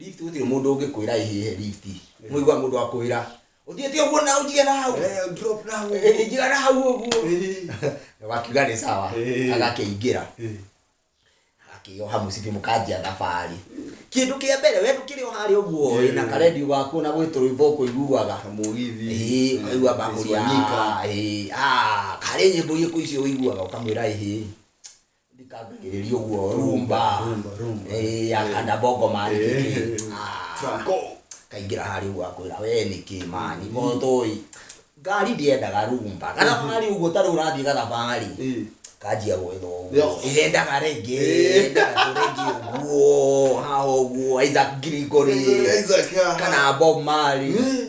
Lift gũtirĩ mũndũ ũngĩkwĩra ĩhĩhe lift mũigua mũndũ akwĩra ũthiĩte ũguo na ũnjige na hau Eh, drop na hau. Eh, njiga na hau ũguo Eh, wakiuga nĩ sawa Eh. agakĩingĩra eh. akĩoha mũcibi mũkanjia thabarĩ kĩndũ kĩa mbere we ndũkĩrĩ o harĩa ũguo Yeah. na karendio gaku na gwĩ tũrwĩmbo ũkũiguaga Kamũgithi. Ĩĩ, ũkaigua mbakũri Swanika. ah, ĩĩ, ah, karĩ nyĩmbo irĩkũ icio ũiguaga ũkamwĩra ĩhĩ ndikambĩrĩria ũguo rumba rumba rumba Eh, ya kanda bongo mani kĩkĩ Ah, Franco. kaingĩra harĩ ũguo akwĩra we nĩkĩ mani motoi ngari ndiendaga rumba gathabarĩ ũguo tarĩ ũrathiĩ gathabarĩ Eh. kanjia gwetha Yo. ũguo irendaga rĩngĩ irendaga tũrĩngĩ ũguo haha ũguo Isaac Gregory Isaac, ah. kana Bob Marley Eh.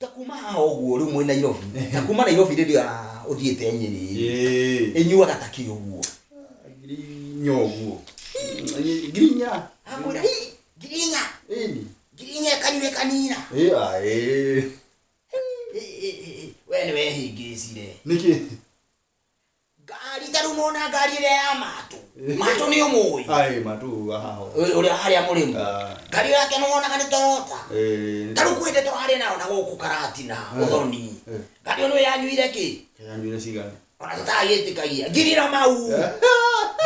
ta kuma haha ũguo rĩu mwĩ nairobi ta kuma nairobi rĩrĩa ũthiĩte nyĩrĩ Ĩĩ. ĩnyuaga ta kĩ ũguo Ngirinya ũguo. Ngirinya. akwĩra "Ĩ, ngirinya Ĩni. ngirinya kanyuĩ kanina Ĩĩ, a, ĩĩ. Ĩ, ĩ, ĩ, ĩ, we nĩ wehĩngĩcire Nĩkĩ? ngari ta rĩu mona ngari ĩrĩa ya matũ matũ nĩ ũmũĩ Ai, matu hao. ũrĩa harĩa mũrĩmu Ah. ngari yake nĩ wonaga nĩ torota Eh, ta rĩu kwĩte tũrarĩ nayo na gũkũ karatina ũthoni Eh. ngari ĩno yanyuire kĩ kaya nywele cigana. ona tũtagĩtĩkagia ngiri na mau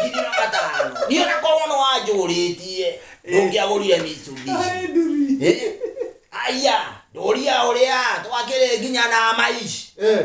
ngiri na matano niĩ ona korwo nĩ wanjũrĩtie ndũngĩagũrire misubi Ai, nduri. Eh, aya ndũria ũrĩa twakĩrĩ nginya na maici Eh,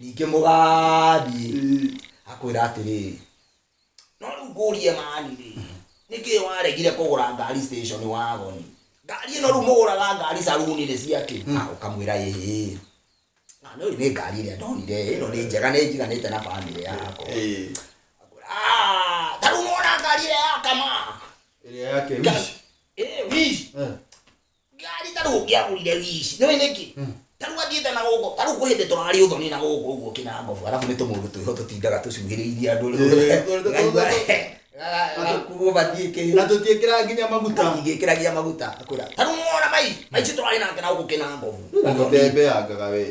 ningĩ mũgathiĩ akwĩra atĩrĩrĩ no rĩu ngũrie mani rĩ nĩkĩ waregire kũgũra ngari station wagoni ngari ĩno rĩu mũgũraga ngari saruni-inĩ ciakĩ na ũkamwĩra ĩhĩ na nĩ nĩ ngari ĩrĩa ndonire ĩno nĩ njega nĩ njiganĩte na bamĩrĩ yakwa Eh, Ah, ta rĩu nĩwona ngari ĩrĩa yakama ĩrĩa yake wish. Eh, wish. Eh. Ngari ta rĩu ũngĩagũrire wiici, nĩũĩ nĩkĩ? Tarĩu athiĩte na gũkũ, tarĩu kwĩ hĩndĩ tũrarĩ ũthoni na gũkũ ũguo ũkĩna ngobu, arabu nĩ tũmũndũ twĩho tũtindaga tũcuhĩrĩirie andũ rĩu Ĩĩ, tũrĩ- ngaigua ga- gakuruo mbathiĩ na kĩhĩ tũtiĩkĩra nginya maguta ingĩkĩra nginya maguta akwĩra tarĩu nĩwona mai maici tũrarĩ nake na gũkũ kĩna ngobu Ũthoni. ũteembeangaga wee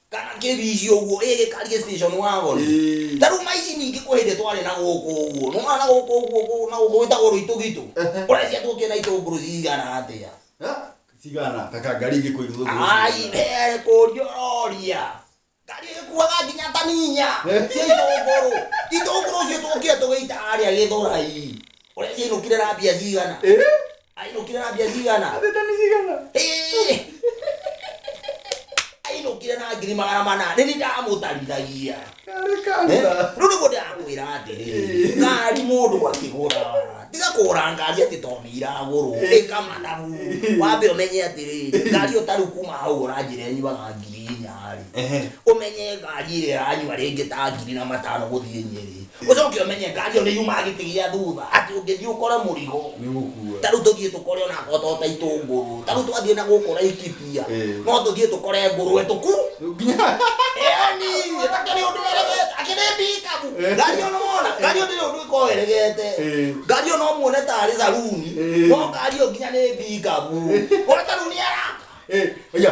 kana kĩbici ũguo ĩ gĩkari gĩ station wa goro Ĩĩ. ta rĩu maici ningĩ kwĩ hĩndĩ twarĩ na gũkũ ũguo nona na gũkũ ũguo gũ- na gũkũ gwĩtagwo rũitũgitũ Ehe. ũrecia tũkĩ na itũngũrũ cigana atĩa Ha? cigana taka ngari ingĩ kwĩ rũthũ ai here kũria ũroria ngari ĩkuaga nginya taninya Eh. cia itũngũrũ itũngũrũ ũcio tũkire tũgĩita arĩa gĩthũrai ũrecia inũkire na mbia cigana Ai nokire na mbia cigana? Atete nĩ cigana? Hĩ! Ai nokire na ngiri magana mana. Nĩ ni ndamũtarithagia. Karĩ kanitha. Rĩu nĩguo ndĩrakwĩra atĩrĩ, ngari mũndũ akĩgũra tiga kũgũra ngari atĩ tondũ nĩ iragũrwo ĩka mathabu wambe ũmenye atĩrĩ ngari ĩyo tarĩu kuma hau ũranjĩra ĩnyuaga ngiri inya-rĩ Ehe. ũmenye ngari ĩrĩa ĩranyua rĩngĩ ta ngiri na matano gũthiĩ Nyeri ucoke umenye ngari ĩyo nĩ yumaga gĩtĩ gĩa thutha atĩ ũngĩthiĩ ũkore mũrigo nĩ gũkua ta rĩu tũthiĩ tũkore ona ngoto ta itũngũrũ ta rĩu twathiĩ na gũkũ Laikipia Ĩĩ. no tũthiĩ tũkore ngũrwe tũku nginya yani takĩrĩ ũndũ eregete akĩrĩ mbikabu Ĩĩ. ngari ĩyo nĩwona ngari ĩyo ndĩrĩ ũndũ ĩkoragwo eregete Ĩĩ. ngari ĩyo no muone tarĩ saruni Ĩĩ. no ngari ĩyo nginya nĩ mbikabu ona ta rĩu nĩ araka Eh, oya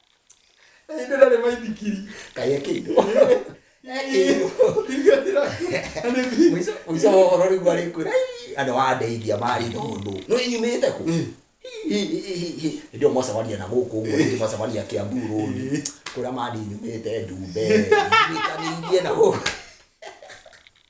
Ĩndĩ ndarĩ maithikiri. Kaĩ ekĩirwo. Ekĩirwo. Ingĩatira. Nĩ bi. Mũico mũico wa ũhoro rĩu arĩkwĩra "Ii, andũ andeithia marĩ thũndũ. Nĩ nyumĩte kũ? Hĩndĩ ĩyo mwacemania na gũkũ ũguo rĩngĩ mwacemania Kiambu Road. Kũrĩa mandi nyumĩte ndumbe. Nyitanĩirie na gũkũ.